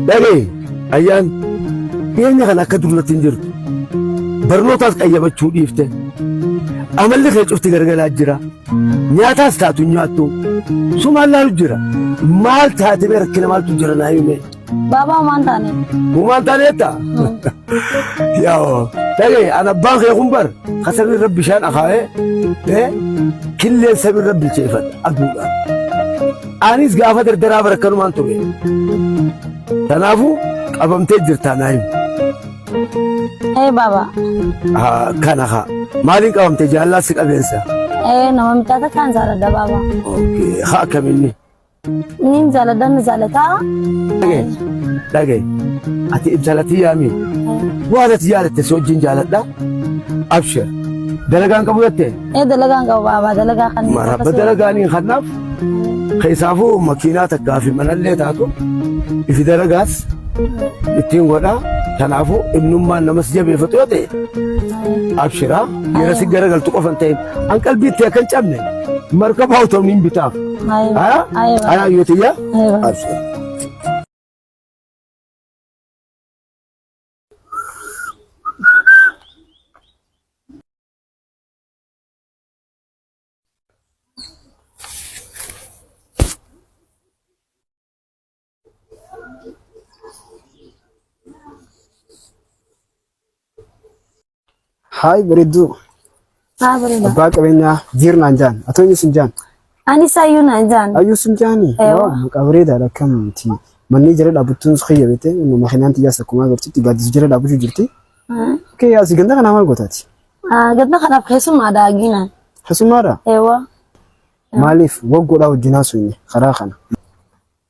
Dhagee ayyaan dhiyeenya kana akka durratti hin jirtu barnootaas qayyabachuu dhiifte amalli kee cufti gargalaa jira nyaataas taatu hin nyaattu sumaan laalu jira maal taate bee rakkina maaltu jira naa himee. Baabaa homaan taane. Uumaan taaneetta. Yaa'oo. Dhagee an abbaan kee kun bar kasarri irra bishaan akaa'ee killeen sabirra bilcheeffadha aduudhaan. Anis gaafa dardaraa bara kanumaan ture. Kanaafuu qabamtee jirtaa naa himu. Ee baaba. Haa, Kana haa. Maaliin qabamte jaallaa si qabeensa? Ee nama mitaata kaan jaaladha baaba. Okay, Haa akkamiinni? Niin jaaladha ni jaalataa. Dhagee, dhagee. Ati intala tiyyaami. Waan ati jaalatte si wajjin jaaladha. Abshir. Dalagaan qabu jettee? Ee dalagaan qaba baabaa dalagaa kan Marabba dalagaanii kanaaf keessaafuu makiinaa takkaa fi manallee taatu ifi dalagaas ittiin godhaa kanaafuu ibnummaan namas jabeeffatu yoo ta'e abshiraa yeroo si garagaltu qofa hin ta'in an qalbiitti akka hin cabne markabaa utuu hin bitaaf. Haa? Haa yoo ta'e abshiraa. Haay bareedduu Haa bareeda. abbaa qabeenyaa jiirnaan jaan atoo inni sin jaan Anis ayyuu naan jaan. Ayyuu sun jaani. Ewa. Waaw maqaa bareedaadha akkamitti. Manneen jala dhaabbattuun kiyya beekte makinaan xiyyaas akkuma agartutti gaaddisa jala dhaabbachuu jirti. Kee yaasi ganda kanaa maal gootaati? Gadda kanaaf keessumaa daagina. Keessummaadha. Ewa. Maaliif waggoodhaa wajjin haasofne karaa kana.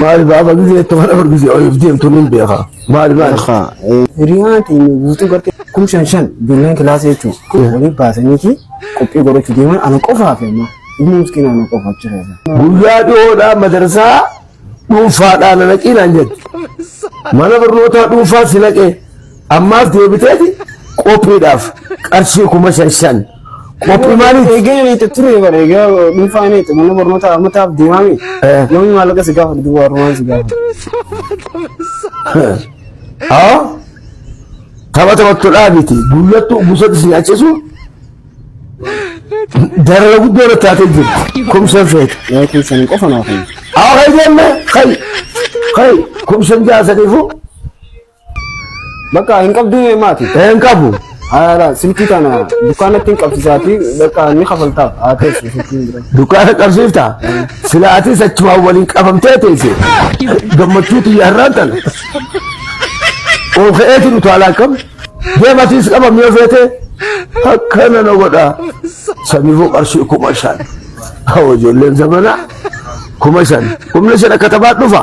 Maali baaba gizee tuma dhabar gizee oliif deemtu nin beeka. Maali maali. Akka hiriyaan teenya guutuu gartee kum shan shan ijoolleen kilaasii jechuun waliin baasaniiti qophii godhachuu deeman ana qofaaf immoo ilmi miskiina ana qofaaf jira. Guyyaa dhiyoodhaa madarsaa dhuunfaadhaan na naqii naan jette. Mana barnootaa dhuunfaa si naqee. Ammaaf deebiteeti qophiidhaaf qarshii kuma shan shan qophii maaliif? Eegeen ani itti ture bara egaa dhuunfaa ani itti mana barnootaa ammataaf deemaami. Eh. Yoomii maallaqa si gaafatu duuba warrumaan si gaafatu. Haa? Tapha taphattudhaa miti. Guyyattu gusatti si nyaachisu darara guddoo irratti taatee jirti. Kumsan feete. Yaa keessan qofa naaf hin. Haa kai deemme kai kai kumsan jaasaniifu Bakka hin qabdu maati. Hin qabu. Haala silkii kana dukkaanatti hin qabsiisaati bakka ni kafaltaaf haa teessu silkiin bira. Dukkaana qabsiifta. Sila atis achumaan waliin qabamtee teesse. Gammachuu tiyya har'aan tana. Ol ka'eeti nu taalaa kam. Deematiis qabam yoo feete akkana na godha. Samiifuu qarshii kuma shan. Hawwa ijoolleen zamanaa kuma shan. Kumni shan akka taphaa dhufa.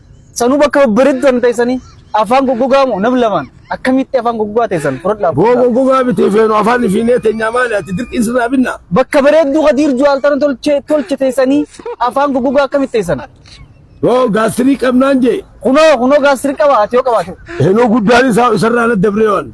Sanuu bakka babbareeddu kan teessanii afaan goggogaa moo nam lamaan akkamitti afaan goggogaa teessan fudhadhaa. Boo goggogaa miti feenu afaan fiinee teenyaa maali ati dirqiin sirraa binna. Bakka bareedduu kadiir juwaaltana tolche tolche teessanii afaan goggogaa akkamitti teessan. Boo gaasirii qabnaan jee. Kunoo kunoo gaasirii qaba ati yoo qabaate. Heenoo guddaan isaa isarraa na dabree waan.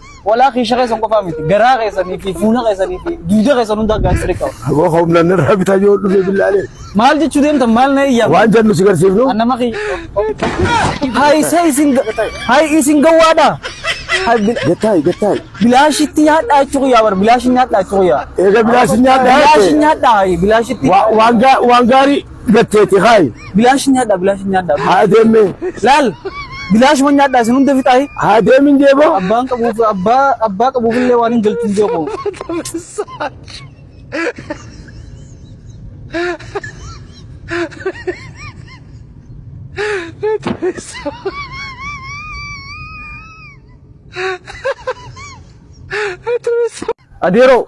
Walaa kiisha keessan qofaa miti. Garaa keessanii fi fuula keessanii fi duuda keessan hundaa gaastiriik qaba. Aboo humna nirraa bitaa yoo dhufe billaalee. Maal jechuu deemtan maal na iyyaa? Waan jennu si garsiifnu. Annama kiyya. Hayi sa isin hayi isin gawwaadha. Gattaayi gattaayi. Bilaashitti nyaadhaa jechuu kiyyaa bar bilaashin nyaadhaa jechuu kiyyaa. Eega bilaashin nyaadhaa. Bilaashin nyaadhaa hayi bilaashitti. Waan gaarii. Gatteeti kaayi. Bilaash nyaadhaa bilaash nyaadhaa. Haa deemee. Laal bilaashuma nyaadhaa isin hunda fixaayi. Haa deemin jeeboo. Abbaan qabuuf abbaa abbaa qabuuf illee waan hin galchu hin jeeqoo. Adeeroo.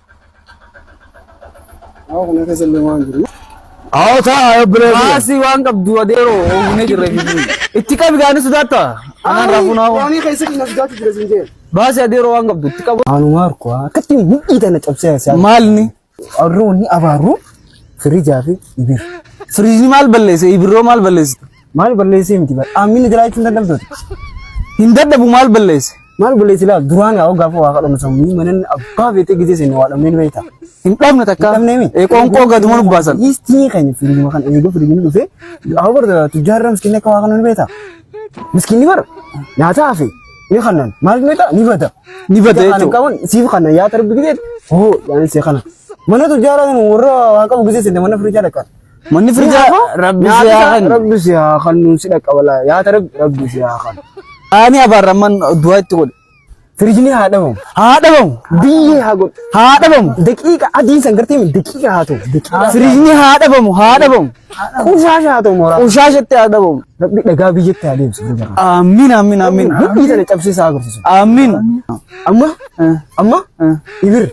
Hawa kana keessa illee waan jiru. Hawa ta'a obboleessi. Maasii waan qabdu adeeroo oogune jirre biyyi. Itti qabi gaanii sodaatta. Anaan raafuu naa waan. Waanii keessa kina sodaatu jira siin jeen. Baasii adeeroo waan qabdu itti qabu. Anu Marko akkatti mudhii tana cabsee haasa'aa. Maalni? Arroonni abaaruu firijaa fi ibir. Firiijni maal balleesse? Ibirroo maal balleessite? Maal balleessee miti bara. Aamina jiraachuu hin dadhabdooti. Hin dadhabu maal balleesse? Maal balleessi laa duraan haa gaafa waa kadhannu sammuu manan abbaa beetee gisee seennu waa dhabneen beekta. Hin dhabne takka. Hin dhabnee mi? Ee, Qoonqoo gaduma nu baasan. Istii keenya fiilima kan eeguu fiilimi dhufee haa barda tujjaarra miskiinni akka waa kannu ni beekta. Miskiinni bara nyaataa hafe ni kannan maal ni beekta ni bada. Ni bada Kan jechuudha. qaban siif kannan yaa tarbi gisee hoo yaanis kana. Mana tujjaarra kan warra waa qabu gisee seenna mana firiichaa dhaqan. Manni firdaa rabbi si haa kennu. Rabbi si haa kennu si dhaqa walaa yaata rabbi rabbi si haa kennu. Ani abaarra amman du'aa itti godhe. Firijni haa dhabamu. Haa dhabamu. Biyyee haa godhu. Haa dhabamu. Daqiiqa adiin san gartee mi daqiiqa haa ta'u. Daqiiqa. Firijni haa dhabamu. Haa dhabamu. Qushaasha haa ta'u mooraa. Qushaashatti haa dhabamu. Rabbi dhagaa biyyatti haa deemsu. Amiin amiin amiin. Hidhii sana cabsee isaa agarsiisu. Amiin. Amma amma ibir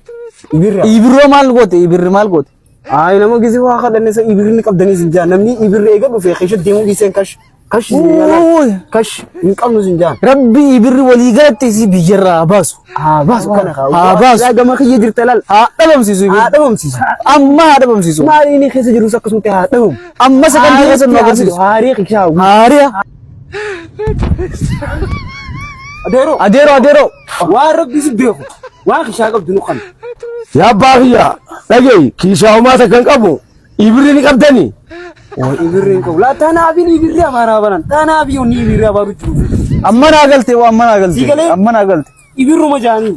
ibirra. Ibirroo maal goote? Ibirri maal goote? Ayi nama gizi waa kadhanne sa ibirri ni qabdanii sin jaan namni ibirri eega dhufe keesha deemuu dhiiseen kash kash sin jaalaa Uuy. kash hin qabnu sin jaan. Rabbi ibirri walii galatti isii biyyarraa haa baasu. Haa baasu kana kaa. Haa baasu. Yaa gama kiyya jirta laal. Haa dhabamsiisu ibirri. Haa dhabamsiisu. Amma haa dhabamsiisu. Maali inni keessa jirus akkasumatti haa dhabamu. Amma sakandii keessa nu agarsiisu. Haarii kiyyaa. Haariya. Adeeroo. Adeeroo adeeroo. Waan rabbi si beeku waan kishaa qabdu nu qabna. Yaa abbaa kiyya dhagayi kiishaa homaa takka hin qabu ibirri ni qabdani. Waan ibirri hin qabu laa taanaaf hin ibirri abaaraa banan taanaaf yoo ni ibirri abaaru jiru. Amma naa galte waa amma naa galte Sii galee? amma naa galte. Ibirruma jaanii.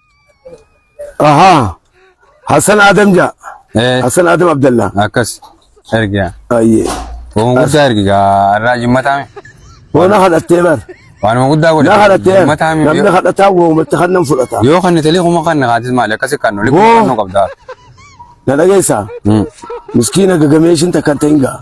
Ahaa. Hassan Adam ja. Eh, Hassan Adam Abdallah. akkas ergiya. Ayyee. Waan guddaa ergi gaa irraa jimmataa mi? Bona kadhattee bar. Waanuma guddaa godhe. Na kadhattee. Jimmataa mi? Namni kadhataa woomatti kan nan fudhata. Yoo kan nitali kuma kan naqaatis maali akkasi kan nuli Hoo. kan nu qabdaa. Na dhageessaa? Hmm. Miskiina gagameeshin takkan ta'in gaa.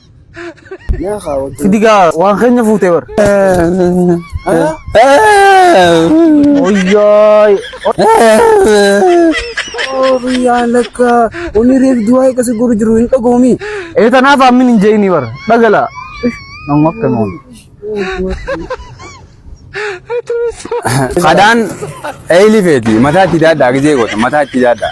Yaa kaa wajjin. Sidigaa waan keenya fuutee bar. Oyyaa. Yaa lakka onni reef du'aa eeggasi godhu jiru hin dhagoomi. Ee tanaaf ammin hin jeeyini bar. Dhagala. Nama akka noon. Kadaan eeyli feeti mataa itti daadhaa gizee goota mataa itti daadhaa.